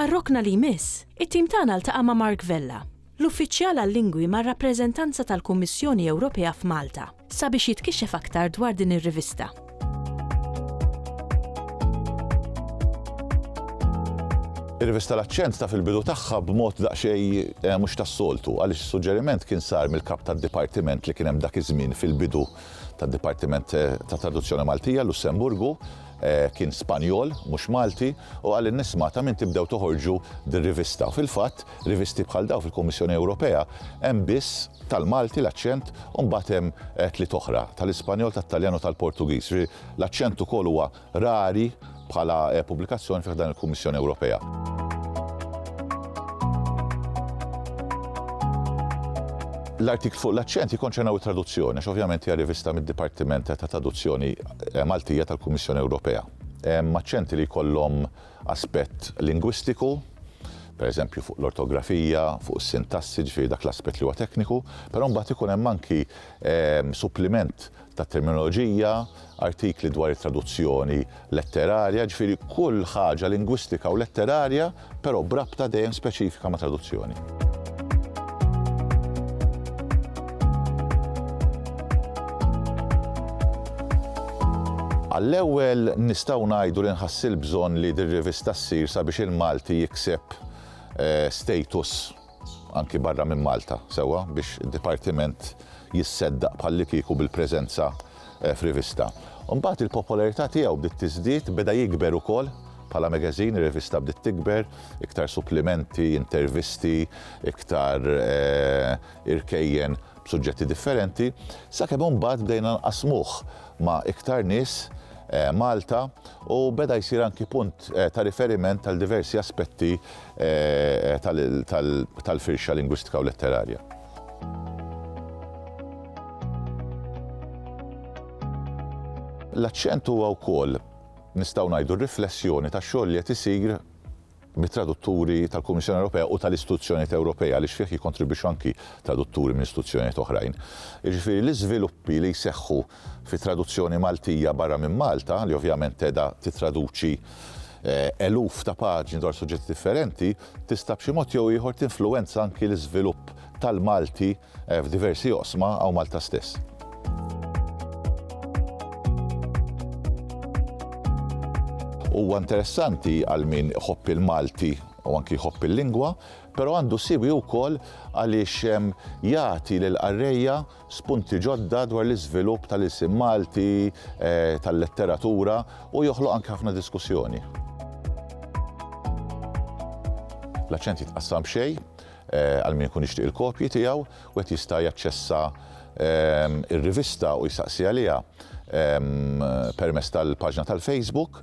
Għar-rokna li jmiss, it-tim tagħna ltaqa' ma' Mark Vella, l-Uffiċjal għal-Lingwi mar-Rappreżentanza tal-Kummissjoni Ewropea f'Malta, sabiex jitkixxef aktar dwar din ir-rivista. Ir-rivista L-Aċċent taf il-bidu tagħha b'mod daqsxejn mhux tas-soltu, għaliex is-suġġeriment kien sar mill-Kap tad-Dipartiment li kien hemm dak iż-żmien fil-bidu tad-Dipartiment tat-Traduzzjoni Maltija, Lussemburgu, Kien Spanjol, mhux Malti, u qal li nisma' ta' min tibdew toħorġu dir-rivista. U fil-fatt, rivisti bħal dawn fil-Kummissjoni Ewropea hemm biss tal-Malti, l-Aċċent, u mbagħad hemm tliet oħra, tal-Ispanjol, tat-Taljan u tal-Portugiż. Jiġifieri l-Aċċent ukoll huwa rari bħala pubblikazzjoni fi ħdan il-Kummissjoni Ewropea. L-artikli fuq l-Aċċent jikkonċernaw it-traduzzjoni, għax ovvjament hija rivista mid-Dipartiment ta' Traduzzjoni Maltija tal-Kummissjoni Ewropea. Hemm aċċenti li jkollhom aspett lingwistiku, pereżempju fuq l-ortografija, fuq is-sintassi, ġifieri dak l-aspett li huwa tekniku, però mbagħad ikun hemm anki ehm, suppliment ta' terminoloġija, artikli dwar it-traduzzjoni letterarja, ġifieri kull ħaġa lingwistika u letterarja però b'rabta dejjem speċifika ma' traduzzjoni. Għall-ewwel nistgħu ngħidu li nħassi l-bżonn li dir-rivista ssir sabiex il-Malti jikseb eh, status anki barra minn Malta, sewwa biex id-dipartiment jisseddaq bħallikieku bil-preżenza f'rivista. Imbagħad il-popolarità tiegħu bdiet tiżdied, beda jikber ukoll bħala magazine, ir-rivista bdiet tikber, iktar supplimenti, intervisti, iktar irkejjen b'suġġetti differenti, sakemm imbagħad bdejna nqassmuh ma' iktar nies Malta u beda jsir anki punt ta' riferiment għal diversi aspetti tal-firxa lingwistika u letterarja. L-aċċent huwa wkoll, nistgħu ngħidu, riflessjoni tax-xogħol li qed isir mit-tradutturi tal-Kummissjoni Ewropea u tal-istituzzjonijiet Ewropej għaliex fih jikkontribwixxu anki tradutturi minn istituzzjonijiet oħrajn. Jiġifieri l-iżviluppi li jseħħu fi traduzzjoni Maltija barra minn Malta, li ovvjament tedha tittraduċi eluf ta' paġni dwar suġġetti differenti, tista' b'xi mod jew ieħor tinfluwenza anki l-iżvilupp tal-Malti f'diversi oqsma hawn Malta stess. Huwa interessanti għal min iħobb il-Malti u anki jħobb il-lingwa, però għandu siwi wkoll għaliex jagħti lill-qarrejja spunti ġodda dwar l-iżvilupp tal-ilsien Malti, tal-letteratura u joħloq anke ħafna diskussjoni. L-aċċent jitqassam b'xejn għal min ikun jixtieq il-kopji tiegħu, wieħed jista' jaċċessa r-rivista u jsaqsi għaliha permezz tal-paġna tal-Facebook.